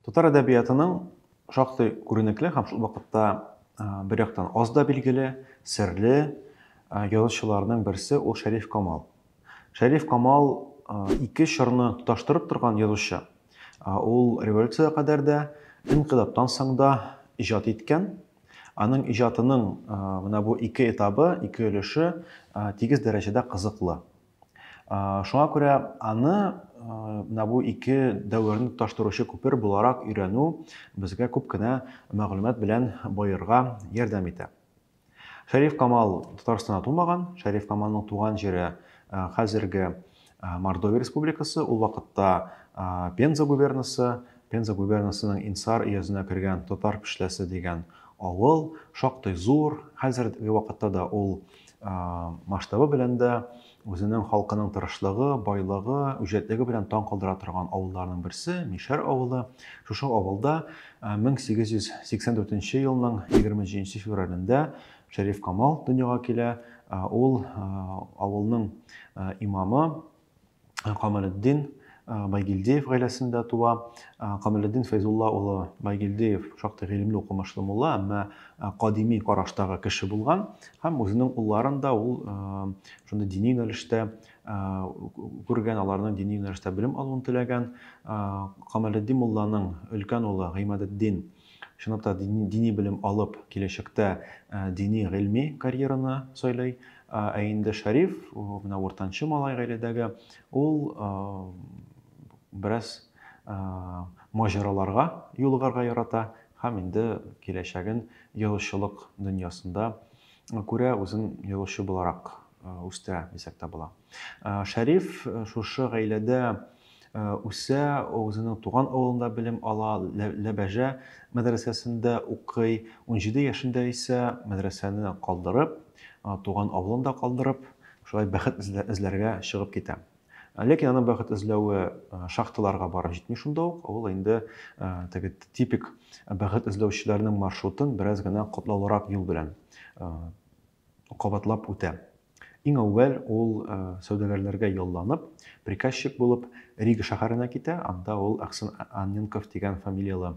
Татар әдәбиятының шактый күренекле һәм шул вакытта бер яктан аз да билгеле, серле язучыларның берсе ул Шәриф Камал. Шәриф Камал ике чорны тоташтырып торган язучы. Ул революциягә кадәр дә, инкыйлабтан соң да иҗат иткән. Аның иҗатының менә бу ике этабы, ике өлеше тигез дәрәҗәдә кызыклы. Шуңа күрә аны менә бу ике дәверне тоташтыручы күпер буларак өйрәнү безгә күп кенә мәгълүмат белән баерга ярдәм итә. Шәриф Камал Татарстанда тумаган, Шәриф Камалның туган җире хәзерге Мордовия республикасы, ул вакытта Пенза губернасы, Пенза губернасының Инсар өязенә кергән Татар Пешләсе дигән авыл, шактый зур, хәзерге вакытта да ул масштабы белән дә үзенең халкының тырышлыгы, байлыгы, үҗәтлеге белән таң калдыра торган авылларның берсе Мишәр авылы. Шушы авылда 1884 елның 23 февралендә Шәриф Камал дөньяга килә. Ул авылның имамы Камалетдин Байгилдеев гаиләсендә туа. Камалетдин Фәйзулла улы Байгилдеев шактый гыйлемле укымышлы мулла, әмма кадими караштагы кеше булган һәм үзенең улларын да ул шундый дини юнәлештә күргән, аларның дини юнәлештә белем алуын теләгән. Камалетдин мулланың өлкән улы Гыймадетдин Чынлап та дини белем алып, киләчәктә дини гыйльми карьераны сайлый. Ә инде Шәриф, менә уртанчы малай гаиләдәге, ул бераз маҗараларга юлыгарга ярата һәм инде киләчәген язучылык дөньясында күрә, үзен язучы буларак үстерә дисәк тә була. Шәриф шушы гаиләдә Э, үсә, үзенең туган авылында белем ала, Ләбәжә мәдрәсәсендә укый. 17 яшендә исә мәдрәсәне калдырып, э, туган авылын да калдырып, шулай бәхет эзләргә чыгып китә. Э, ләкин аның бәхет эзләве шахталарга барып җитми шунда ук. Ул инде теге типик бәхет эзләүчеләрнең маршрутын бераз гына катлаулырак юл белән кабатлап үтә. Иң әүвәл ул сәүдәгәрләргә ялланып, приказчик булып Рига шәһәренә китә, анда ул Аксен Анненков дигән фамилияле,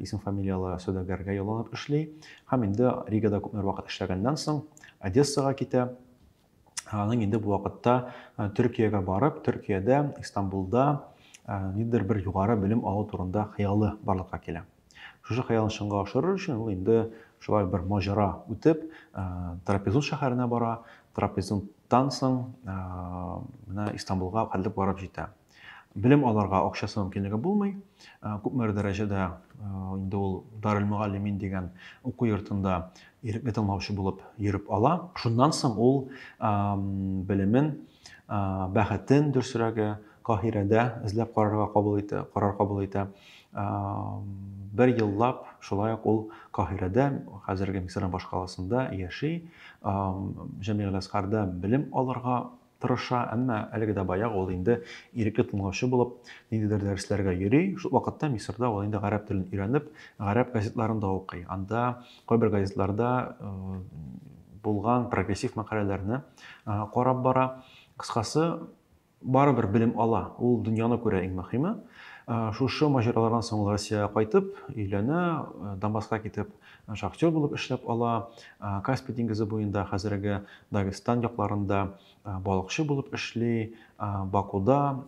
исем-фамилияле сәүдәгәргә ялланып эшли. Һәм инде Ригада күпмедер вакыт эшләгәннән соң, Одессага китә. аның инде бу вакытта Төркиягә барып, Төркиядә, Истанбулда ниндидер бер югары белем алу турында хыялы барлыкка килә. Шушы хыялын чынга ашырыр өчен ул инде шулай бер маҗара үтеп, Трапезун шәһәренә бара, Трапезунтан соң менә Истанбулга кадәр барып җитә. Белем аларга акчасы мөмкинлеге булмый. Э, күпмедер дәрәҗәдә э, инде ул Дарел Мөгаллимин дигән уку йортында ирекле тыңлаучы булып йөреп ала. Шуннан соң ул белемен, бәхетен дөресрәге Каһирәдә эзләп карарга кабул итә, карар кабул итә. Бер еллап шулай ук ул Каһирәдә, хәзерге Мисырның башкаласында яши. Җәмигъ Ләскарда белем алырга тырыша, әмма әлеге дә баягы, ул инде ирекле тыңлаучы булып, ниндидер дәресләргә йөри. Шул вакытта Мисырда ул инде гарәп телен өйрәнеп, гарәп газетларын да укый. Анда кайбер газетларда булган прогрессив мәкаләләрне карап бара. Кыскасы, барыбер белем ала. Ул дөньяны күрә иң мөһиме. Шушы маҗаралардан соң ул Россиягә кайтып, өйләнә, Дамаска китеп, Шахтер булып эшләп ала, Каспий диңгезе буенда, хәзерге Дагестан якларында балыкчы булып эшли, Бакуда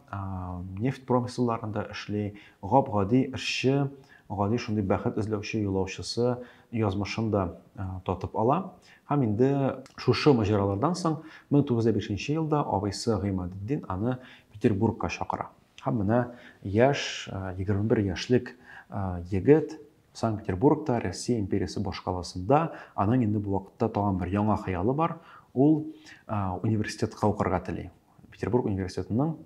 нефть промыслларында эшли, гап-гади эшче, гади шундый бәхет эзләүче юлаучысы язмышын да татып ала. Һәм инде шушы маҗаралардан соң 1905 елда абыйсы Гыймадетдин аны Петербургка чакыра. Һәм менә яшь, 21 яшьлек егет Санкт-Петербургта, Россия империясе башкаласында аның инде бу вакытта тагын бер яңа хыялы бар. Ул университетка укырга тели. Петербург университетының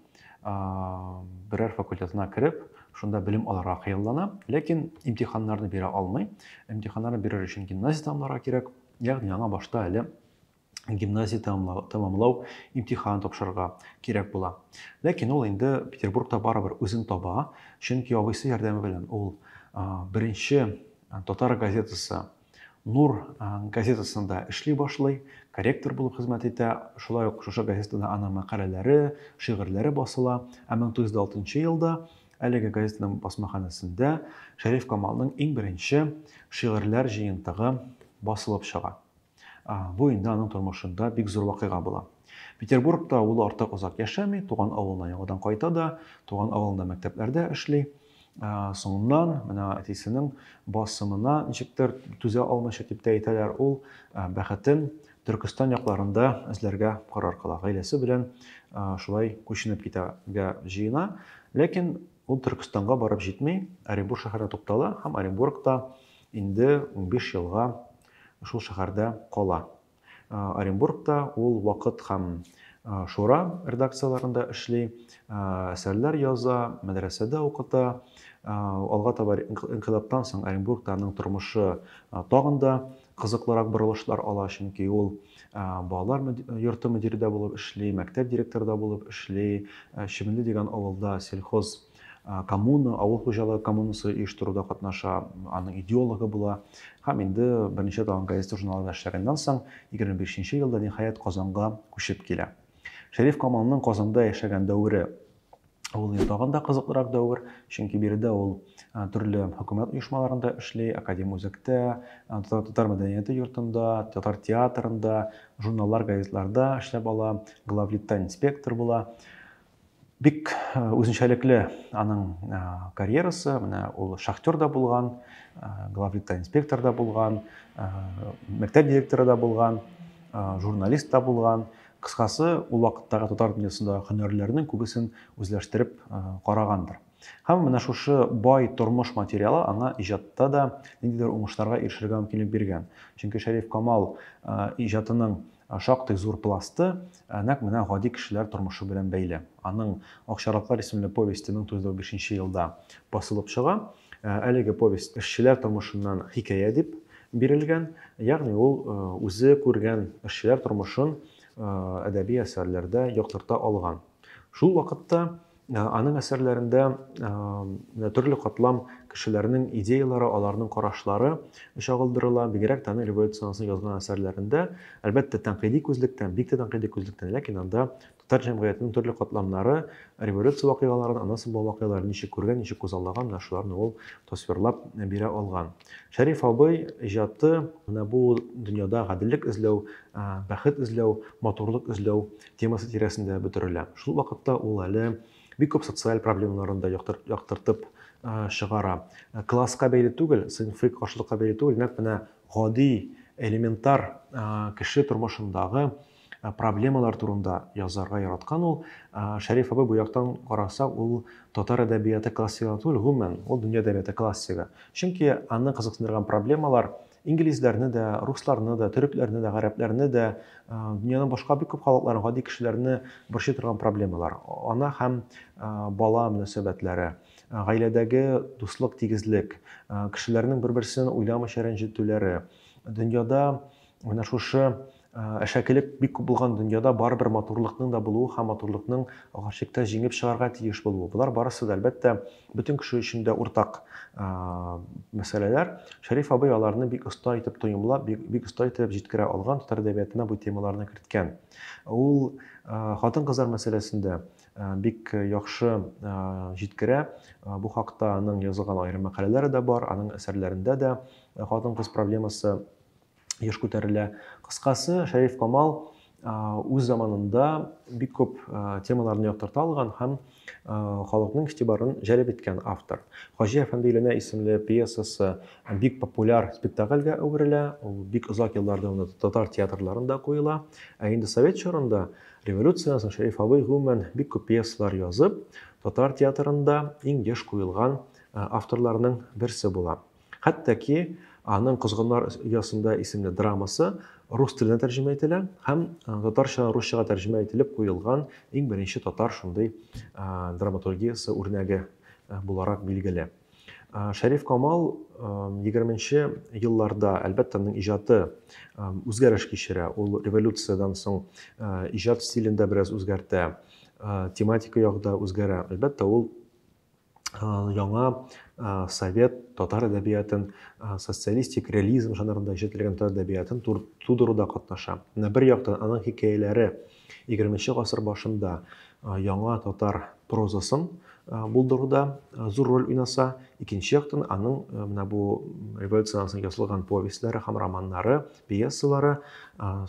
берәр факультетына кереп, шунда белем алырга хыяллана, ләкин имтиханнарны бирә алмый. Имтиханнарны бирер өчен гимназия тамларга кирәк, ягъни аңа башта әле гимназия тәмамлау имтиханын тапшырырга кирәк була. Ләкин ул инде Петербургта барыбер үзен таба, чөнки абыйсы ярдәме белән ул беренче татар газетасы Нур газетасында эшли башлый, корректор булып хезмәт итә. Шулай ук шушы газетада аның мәкаләләре, шигырьләре басыла. Ә 1906 елда әлеге газетаның басмаханәсендә Шәриф Камалның иң беренче шигырьләр җыентыгы басылып чыга. Бу инде аның тормышында бик зур вакыйга була. Петербургта ул артык озак яшәми, туган авылына яңадан кайта да, туган авылында мәктәпләрдә эшли. Соңыннан менә әтисенең басымына ничектер түзә алмыйча дип тә әйтәләр, ул бәхетен Төркестан якларында эзләргә карар кыла. Гаиләсе белән шулай күченеп китәргә җыена, ләкин ул Төркестанга барып җитми, Оренбург шәһәрендә туктала һәм Оренбургта инде 15 елга шул шәһәрдә кала. Оренбургта ул Вакыт һәм Шура редакцияләрендә эшли, әсәрләр яза, мәдрәсәдә укыта. Алга таба инкыйлаптан соң Оренбургта аның тормышы тагын да кызыклырак борылышлар ала, чөнки ул балалар йорты мөдире дә булып эшли, мәктәп директоры да булып эшли, Чебенле дигән авылда сельхоз коммуна, авыл хуҗалыгы коммунасы оештыруда катнаша, аның идеологы була. Һәм инде берничә тагын газета-журналларда эшләгәннән соң, 25 нче елда ниһаять Казанга күчеп килә. Шәриф Камалның Казанда яшәгән дәвере ул инде тагын да кызыклырак дәвер, чөнки биредә ул төрле хөкүмәт оешмаларында эшли, академ үзәктә, татар мәдәнияте йортында, татар театрында, журналлар, газетларда эшләп ала, главлитта инспектор була. Бик үзенчәлекле аның карьерасы, менә ул шахтер да булган, главлиттан инспектор да булган, мәктәп директоры да булган, журналист та булган. Кыскасы, ул вакыттагы татар дөньясында һөнәрләрнең күбесен үзләштереп карагандыр. Һәм менә шушы бай тормыш материалы аңа иҗатта да ниндидер уңышларга ирешергә мөмкинлек биргән. Чөнки Шәриф Камал иҗатының Шактый зур пласты нәкъ менә гади кешеләр тормышы белән бәйле. Аның Акчарлаклар исемле повесте 1095 нче елда басылып чыга. Әлеге повесть эшчеләр тормышыннан хикәя дип бирелгән, ягъни ул үзе күргән эшчеләр тормышын әдәби әсәрләрдә яктырта алган. Шул вакытта Аның әсәрләрендә менә төрле катлам кешеләрнең идеялары, аларның карашлары чагылдырыла. Бигрәк тә аның революциянең язган әсәрләрендә, әлбәттә, тәнкыйди күзлектән, бик тә тәнкыйди күзлектән, ләкин анда татар җәмгыятенең төрле катламнары революция вакыйгаларын, ана саба вакыйгаларын ничек күргән, ничек күзаллаган, менә шуларны ул тасвирлап бирә алган. Шәриф абый иҗаты менә бу дөньяда гаделлек эзләү, бәхет эзләү, матурлык эзләү темасы тирәсендә бөтерелә. Шул вакытта ул әле бик күп социаль проблемаларын да яктыртып чыгара. Класска бәйле түгел, сыйнфый каршылыкка бәйле түгел, нәкъ менә гади, элементар кеше тормышындагы проблемалар турында язарга яраткан ул. Шәриф абый бу яктан караса, ул татар әдәбияты классигы түгел, гомумән, ул дөнья әдәбияты классигы. Чөнки аны кызыксындырган проблемалар Инглизләрне дә, русларны да, төрекләрне дә, гарәпләрне дә, дөньяның башка бик күп халыкларын, гади кешеләрне борчый торган проблемалар. Ана һәм бала мөнәсәбәтләре, гаиләдәге дуслык, тигезлек, кешеләрнең бер-берсен уйламыйча рәнҗетүләре, дөньяда менә шушы Әшәкелек бик күп булган дөньяда барыбер матурлыкның да булуы һәм матурлыкның гарьчеккә җиңеп чыгарга тиеш булуы, болар барысы да, әлбәттә, бөтен кеше өчен дә уртак мәсьәләләр. Шәриф абый аларны бик оста итеп тоемлап, бик, бик оста итеп җиткерә алган, татар әдәбиятына бу темаларны керткән. Ул хатын-кызлар мәсьәләсендә бик яхшы җиткерә. Бу хакта аның язылган аерым мәкаләләре дә бар, аның әсәрләрендә дә хатын-кыз проблемасы еш күтәрелә. Кыскасы, Шәриф Камал үз заманында бик күп темаларны яктырта алган һәм халыкның игътибарын җәлеп иткән автор. Хаҗи әфәнде өйләнә исемле пьесасы бик популяр спектакльгә әверелә, ул бик озак еллар дәвамында татар театрларында куела. Ә инде совет чорында, революциядән соң Шәриф абый гомумән бик күп пьесалар язып, татар театрында иң еш куелган авторларның берсе була. Хәтта ки аның Козгыннар оясында исемле драмасы рус теленә тәрҗемә ителә һәм татарчадан русчага тәрҗемә ителеп куелган иң беренче татар шундый драматургиясе үрнәге буларак билгеле. Шәриф Камал 20-нче елларда, әлбәттә, аның иҗаты үзгәреш кичерә. Ул революциядән соң иҗат стилен дә бераз үзгәртә, тематика ягы да үзгәрә. Әлбәттә, ул яңа совет татар әдәбиятын, социалистик реализм жанрында иҗатләгән татар әдәбиятын тудыруда катнаша. Менә бер яктан аның хикәяләре 20 гасыр башында яңа татар прозасын булдыруда зур роль уйнаса, икенче яктан аның менә бу революцияннән соң язылган повестьләре һәм романнары, пьесалары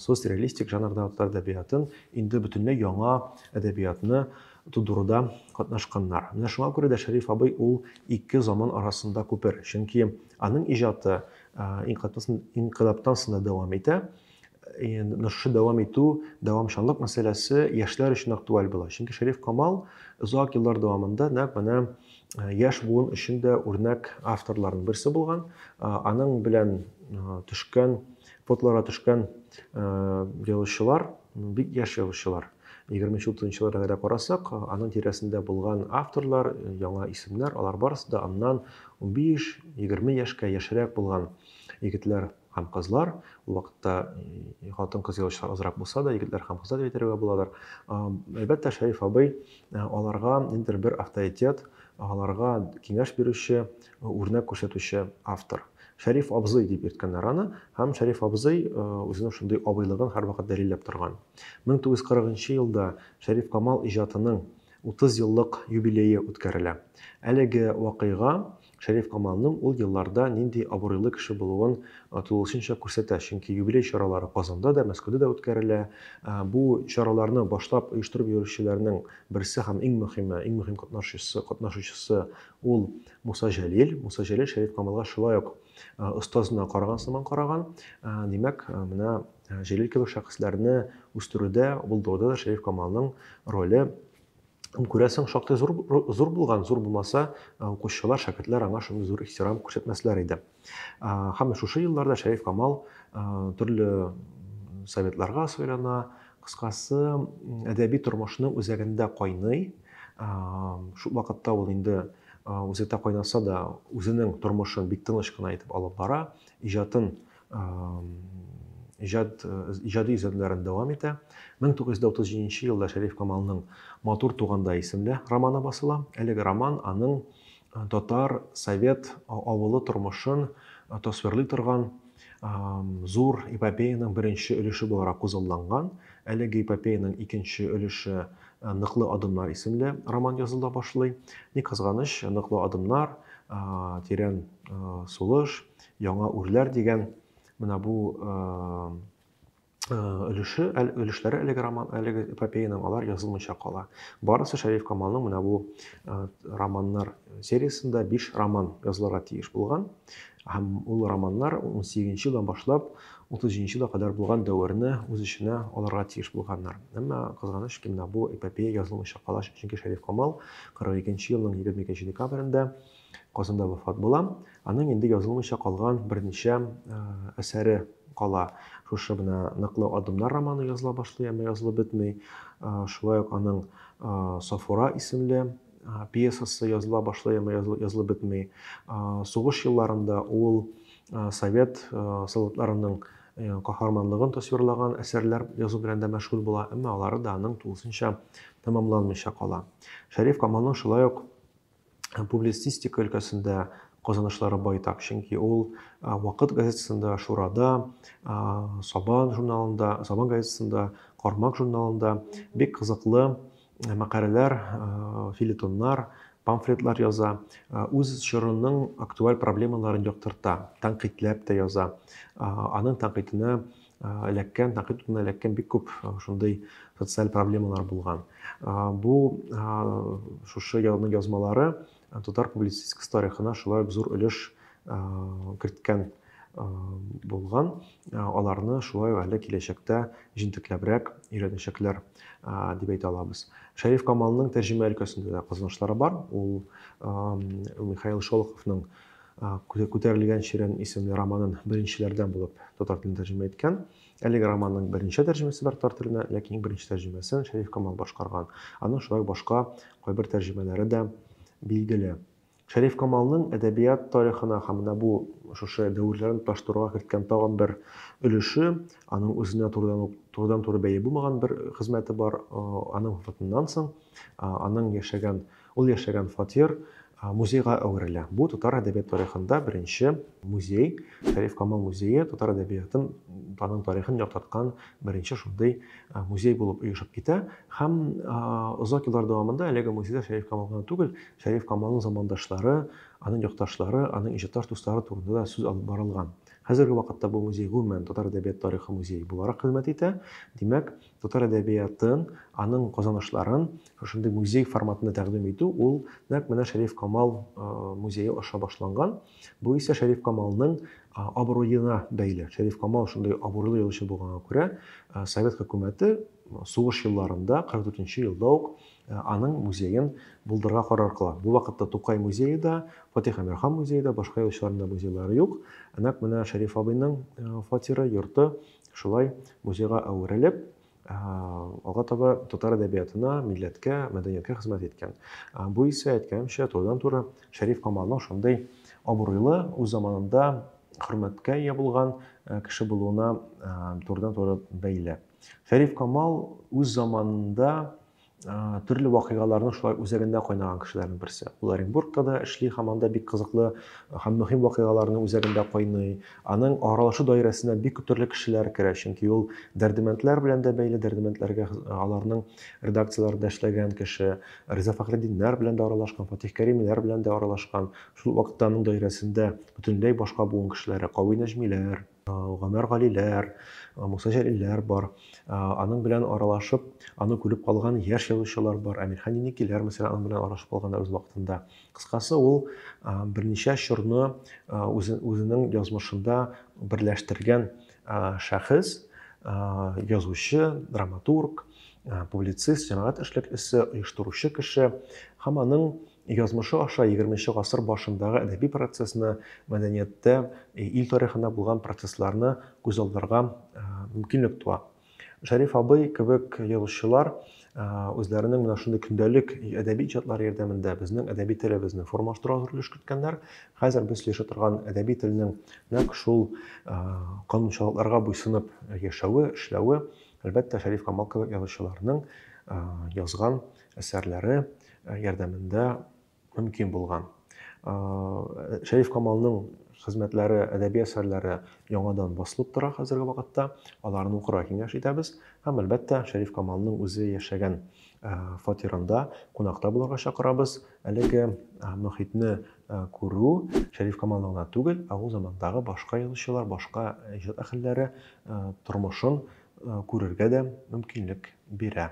социалистик жанрда татар әдәбиятын инде бөтенләй яңа әдәбиятны Тудыруда катнашканнар. Менә шуңа күрә дә Шәриф абый ул ике заман арасында күпер. Чөнки аның иҗаты инкыйлабтан соң да дәвам итә. Менә шушы дәвам итү, дәвамчанлык мәсьәләсе яшьләр өчен актуаль була. Чөнки Шәриф Камал озак еллар дәвамында нәкъ менә яшь буын өчен дә үрнәк авторларның берсе булган. Аның белән төшкән, фотоларга төшкән язучылар, бик яшь язучылар. Егерменче, утызынчы елларга да карасак, аның тирәсендә булган авторлар, э, яңа исемнәр, алар барысы да аннан 15-20 яшькә яшьрәк булган егетләр һәм кызлар. Ул вакытта э, хатын-кыз язучылар азрак булса да, егетләр һәм кызлар дип әйтергә буладыр. Әлбәттә, Шәриф абый э, аларга ниндидер бер авторитет, аларга киңәш бирүче, Үрнәк күрсәтүче автор. Шәриф абзый дип йөрткәннәр аны, һәм Шәриф абзый үзенең шундый абыйлыгын һәрвакыт дәлилләп торган. 1940 елда Шәриф Камал иҗатының 30 еллык юбилее үткәрелә. Әлеге вакыйга Шәриф Камалның ул елларда нинди абруйлы кеше булуын тулысынча күрсәтә, чөнки юбилей чаралары Казанда да, Мәскәүдә дә үткәрелә. Бу чараларны башлап оештырып йөрүчеләрнең берсе һәм иң мөһиме, иң мөһим катнашучысы Ул Муса Җәлил, Муса Җәлил Шәриф Камалга шулай ук остазына караган сыман караган. Димәк, менә Җәлил кебек шәхесләрне үстерүдә, булдыруда да Шәриф Камалның роле күрәсең шактый зур зур булган, зур булмаса, укучылар, шәкертләр аңа шундый зур ихтирам күрсәтмәсләр иде. Һәм шушы елларда Шәриф Камал төрле советларга сайлана, кыскасы, әдәби тормышның үзәгендә кайный. Шул вакытта ул инде үзәктә кайнаса да, үзенең тормышын бик тыныч кына итеп алып бара, иҗатын иҗат иҗади изгеләрен дәвам итә. 1937 елда Шәриф Камалның Матур туганда исемле романы басыла. Әлеге роман аның татар совет авылы тормышын тасвирлый торган зур эпопеяның беренче өлеше буларак күзалланган. Әлеге эпопеяның икенче өлеше Ныклы адымнар исемле роман языла башлый. Ни кызганыч, Ныклы адымнар, Тирән сулыш, Яңа үрләр дигән менә бу Э, өлеше өлешләре әлеге роман әлеге эпопеяның алар язылмыйча кала барысы шәриф камалның менә бу э, романнар сериясендә биш роман язылырга тиеш булган һәм ул романнар 18 елдан башлап 30 елга кадәр булган дәверне үз эченә алырга тиеш булганнар әмма кызганыч ки менә бу эпопея язылмыйча кала чөнки шәриф камал 42 елның 22 декабрендә Казанда вафат була. Аның инде язылмыйча калган берничә әсәре кала. Шушы менә Ныклы адымнар романы языла башлый, әмма язылып бетми. Шулай ук аның Сафура исемле пьесасы языла башлый, әмма язылып бетми. Сугыш елларында ул совет солдатларының каһарманлыгын тасвирлаган әсәрләр язу белән дә мәшгуль була, әмма алары да аның тулысынча тәмамланмыйча кала. Шәриф Камалның шулай ук публицистика өлкәсендә казанышлары байтак, чөнки ул Вакыт газетасында, Шурада, Сабан журналында, Сабан газетасында, Кармак журналында бик кызыклы мәкаләләр, филитоннар, памфлетлар яза, үз чорының актуаль проблемаларын яктырта, тәнкыйтьләп тә яза. Аның тәнкыйтенә эләккән, тәнкыйть утына эләккән бик күп шундый социаль проблемалар булган. Бу шушы язның язмалары татар публицистик тарихына шулай ук зур өлеш керткән булган. Аларны шулай әле киләчәктә җентекләбрәк өйрәнәчәкләр дип әйтә алабыз. Шәриф Камалның тәрҗемә өлкәсендә дә казанышлары бар. Ул Михаил Шолоховның Күтәрелгән чирәм исемле романын беренчеләрдән булып татар телен тәрҗемә иткән. Әлеге романның беренче тәрҗемәсе бар татар теленә, ләкин иң беренче тәрҗемәсен Шәриф Камал башкарган. Аның шулай башка кайбер тәрҗемәләре дә билгеле. Шәриф Камалның әдәбият тарихына һәм менә бу шушы дәверләрен тоташтыруга керткән тагын бер өлеше, аның үзенә турыдан ук турыдан-туры бәйле булмаган бер хезмәте бар. Аның вафатыннан соң аның яшәгән Ул яшәгән фатир музейга әверелә. Бу татар әдәбият тарихында беренче музей. Шәриф Камал музее татар әдәбиятын, аның тарихын яктырткан беренче шундый музей булып оешып китә. Һәм озак еллар дәвамында әлеге музейда Шәриф Камал гына түгел, Шәриф Камалның замандашлары, аның якташлары, аның иҗатташ дуслары турында да сүз алып барылган. Хәзерге вакытта бу музей гомумән татар әдәбият тарихы музее буларак хезмәт итә. Димәк, Татар әдәбиятын, аның казанышларын шушындый музей форматында тәкъдим итү, ул нәкъ менә Шәриф Камал музее аша башланган. Бу исә Шәриф Камалның абруена бәйле. Шәриф Камал шундый абруйлы язучы булганга күрә, совет хөкүмәте сугыш елларында, 44-нче елда ук аның музеен булдырырга карар кыла. Бу вакытта Тукай музее да, Фатих Әмирхан музее да, башка язучыларның да музейлары юк. Нәкъ менә Шәриф абыйның фатиры, йорты Шулай музейга әверелеп, алга таба татар әдәбиятына, милләткә, мәдәнияткә хезмәт иткән. Бу исә, әйткәнемчә, турыдан-туры Шәриф Камалның шундый абруйлы, үз заманында хөрмәткә ия булган кеше булуына турыдан-туры бәйле. Шәриф Камал үз заманында төрле вакыйгаларның шулай үзәгендә кайнаган кешеләрнең берсе. Ул Оренбургта да эшли һәм анда бик кызыклы һәм мөһим вакыйгаларның үзәгендә кайный. Аның аралашу даирәсенә бик күп төрле кешеләр керә, чөнки ул Дәрдемәндләр белән дә бәйле, Дәрдемәндләргә аларның редакцияләрендә эшләгән кеше, Риза Фәхреддиннәр белән дә аралашкан, Фатих Кәримиләр белән дә аралашкан. Шул вакытта аның даирәсендә бөтенләй башка буын кешеләре, Кави Нәҗмиләр, Гомәр Галиләр, Муса Җәлилләр бар. Аның белән аралашып, аны күреп калган яшь язучылар бар. Әмирхан Еникиләр, мәсәлән, аның белән аралашып калганнар үз вакытында. Кыскасы, ул берничә чорны үзенең язмышында берләштергән шәхес, язучы, драматург, публицист, җәмәгать эшлеклесе, оештыручы кеше һәм аның Язмышы аша егерме нче гасыр башындагы әдәби процессны, мәдәнияттә, ил тарихында булган процессларны күз алдарга мөмкинлек туа. Шәриф абый кебек язучылар үзләренең менә шундый көндәлек әдәби иҗатлары ярдәмендә безнең әдәби телебезне формалаштыруга зур өлеш керткәннәр. Хәзер без сөйләшә торган әдәби телнең нәкъ шул канунчалыкларга буйсынып яшәве, эшләве, әлбәттә, Шәриф Камал кебек язучыларның язган әсәрләре, ярдәмендә мөмкин булган. Шәриф Камалның хезмәтләре, әдәби әсәрләре яңадан басылып тора хәзерге вакытта. Аларны укырга киңәш итәбез. Һәм әлбәттә, Шәриф Камалның үзе яшәгән фатирында кунакта булырга чакырабыз. Әлеге мөхитне күрү Шәриф Камалны гына түгел, ә ул замандагы башка язучылар, башка иҗат әһелләре тормышын күрергә дә мөмкинлек бирә.